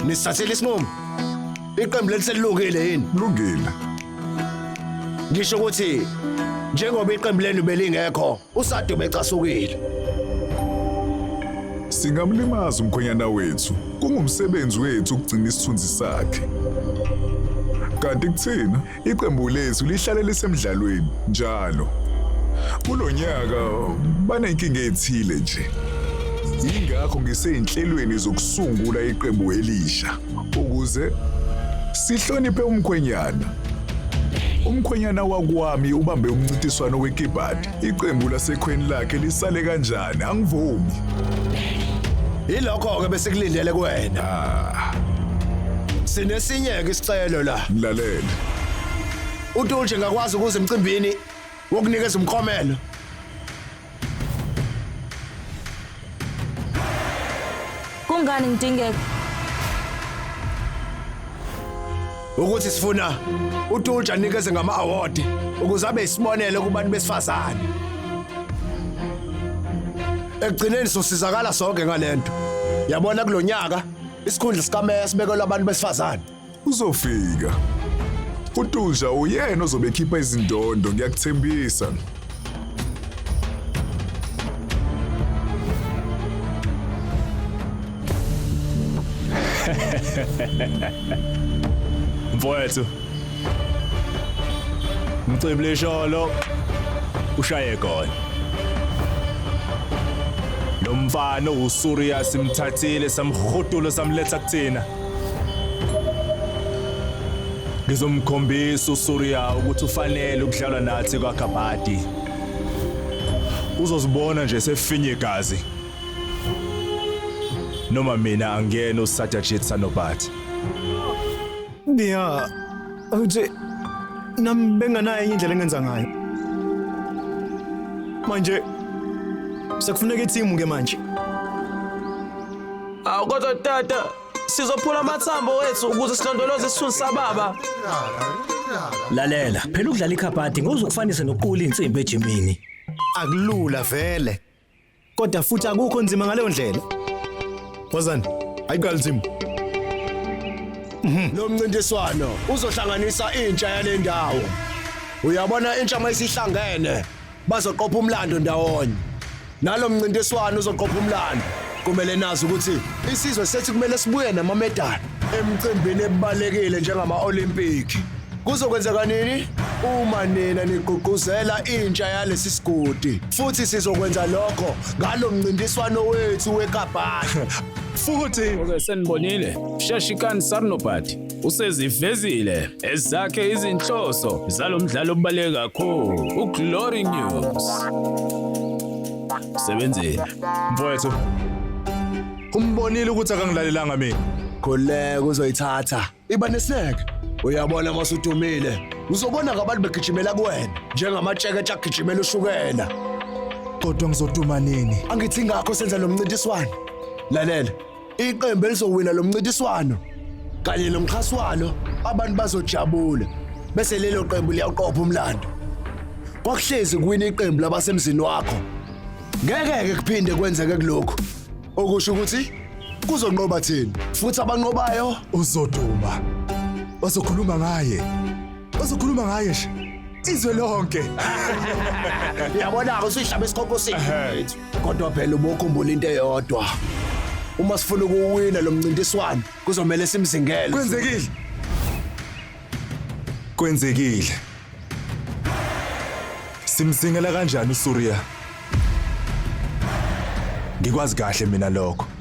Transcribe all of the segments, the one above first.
Nisithathile isinqumo. Iqembu lethu selilungile yini? Lungile. Ngisho ukuthi njengoba iqembu lenu belingekho, uSadu becasukile. Singamlimaza umkhonyana wethu. Kungumsebenzi wethu ukugcina isithunzi sakhe. Kanti kuthina Iqembu lethu lihlale lisemdlalweni njalo. Kulo nyaka banenkinga ethile nje. Yingakho ngiseyinhlelweni zokusungula iqembu elisha ukuze sihloniphe umkhwenyana. Umkhwenyana wakwami ubambe umncintiswano wekibhadi. Iqembu lasekhweni lakhe lisale kanjani? Angivumi. Yilokho-ke besikulindele kuwena. Ah. Sinesinye-ke isicelo la. Mlalele. UTulje ngakwazi ukuza emcimbini wokunikeza umklomelo. Kungani ngidingeka? Ukuthi sifuna uTulja nikeze ngama award ukuze abe isibonelo kubantu besifazane. Ekugcineni sosizakala sonke ngalento. Yabona kulonyaka isikhundla sikameye sibekelwe abantu besifazane. Uzofika. UTulja uyena ozobe ekhipha izindondo ngiyakuthembisa. Mfowethu. Mcebile sholo ushaye gone. Lo mfana uSuriya simthathile samhudula samletha kuthina. Ngizomkhombisa uSuriya ukuthi ufanele ukudlalwa nathi kwaGabadi. Uzozibona nje sefinye igazi. Noma mina angiyena uSatyajit Sanobat. Biya, awuthi nami benganayo enye indlela engenza ngayo. Manje sekufuneka ithimu ke manje. Awu kodwa tata sizophula amathambo wethu ukuze silondoloze isithunzi sababa. Lalela, phela ukudlala ikhabhadi ngozokufanisa nokuqula insimbi ejimini. Akulula vele. Kodwa futhi akukho nzima ngaleyo ndlela. Wazani? Ayiqali nzima. Lo mncintiswano uzohlanganisa intsha yale ndawo. Uyabona intsha mayisihlangene bazoqopha umlando ndawonye nalo mncintiswano uzoqopha umlando kumele nazi ukuthi isizwe sethu kumele sibuye namamedali emcimbini ebalekile njengama-olimpiki kuzokwenzeka nini uma nina nigqugquzela intsha yalesi sigodi futhi sizokwenza lokho ngalo mncintiswano wethu wekabhasha futhi okay senibonile sheshikani sarnobhadi usezivezile ezakhe izinhloso zalo mdlalo obaluleke kakhulu uglory news sebenzile mfowethu umbonile ukuthi akangilalelanga mina khuleka uzoyithatha iba neseke uyabona masudumile uzobona ngabantu begijimela kuwena njengamatsheketshe agijimela ushukela kodwa ngizoduma nini angithi ngakho senza lo mncintiswano lalela Iqembu elizowina lo mncintiswano kanye nomxhasi walo abantu bazojabula bese lelo qembu liyawuqopha umlando. Kwakuhlezi kuwina iqembu labasemzini wakho. Ngeke-ke kuphinde kwenzeke kulokhu okusho ukuthi kuzonqoba thina futhi abanqobayo uzoduma bazokhuluma ngaye bazokhuluma ngaye nje izwe lonke Yabona-ke usihlaba esikhokho sethu. Kodwa phela ubokhumbula into eyodwa. Uma sifuna ukuwina lo mncintiswano kuzomele simzingele. Kwenzekile. Kwenzekile. Simzingela kanjani uSuriya? Ngikwazi kahle mina lokho.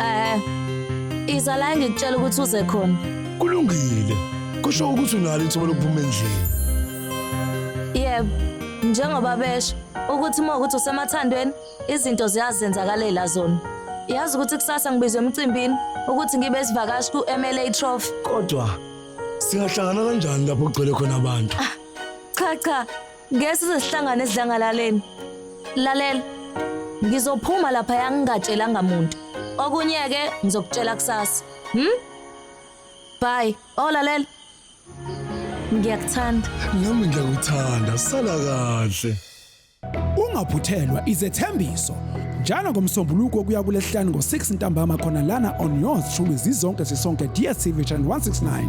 Eh. Iza la ngikutshela ukuthi uze khona. Kulungile. Kusho ukuthi unalo ithuba lokuphuma endlini. Yebo. Njengoba besho ukuthi uma ukuthi usemathandweni izinto ziyazenzakalela zona. Yazi ukuthi kusasa ngibizwe emcimbini ukuthi ngibe isivakashi ku-MLA Trophy. Kodwa singahlangana kanjani lapho kugcwele khona abantu? Cha cha, Ngeke size sihlangane esidlangalaleni. Lalela. Ngizophuma lapha yangingatshelanga muntu. Okunye ke ngizokutshela kusasa. Hm? Bye. Oh lalela. Ngiyakuthanda. Nami ngiyakuthanda. Sala kahle. Ungaphuthelwa izethembiso njalo ngomsombuluko kuya kulesihlanu ngo-6 ntambama khona lana on yours shumi zizonke zisonke DSTV channel 169